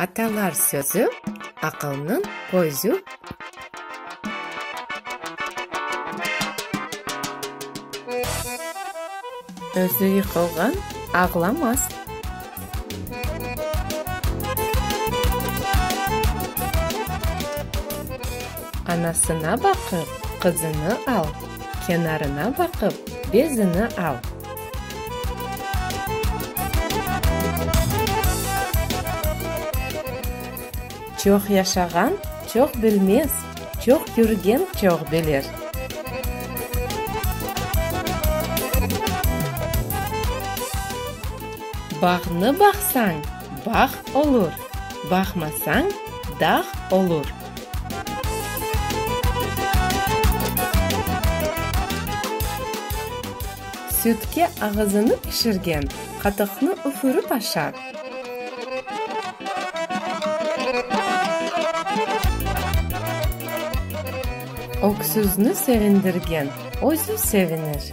Atalar sözü, aqılnıñ közü. Özü yıqılğan ağlamaz. Anasına baqıp, qızını al, kenarına baqıp, bezini al. Çoq yaşağan çoq bilmez, çoq körgen çoq bilir. Bağnı baqsañ. Bağ olur, baqmasañ, dağ olur. Sütke ağızını pişirgen, qatıqnı üfürip aşar. Öksüzni sevindirgen, özü sevinir.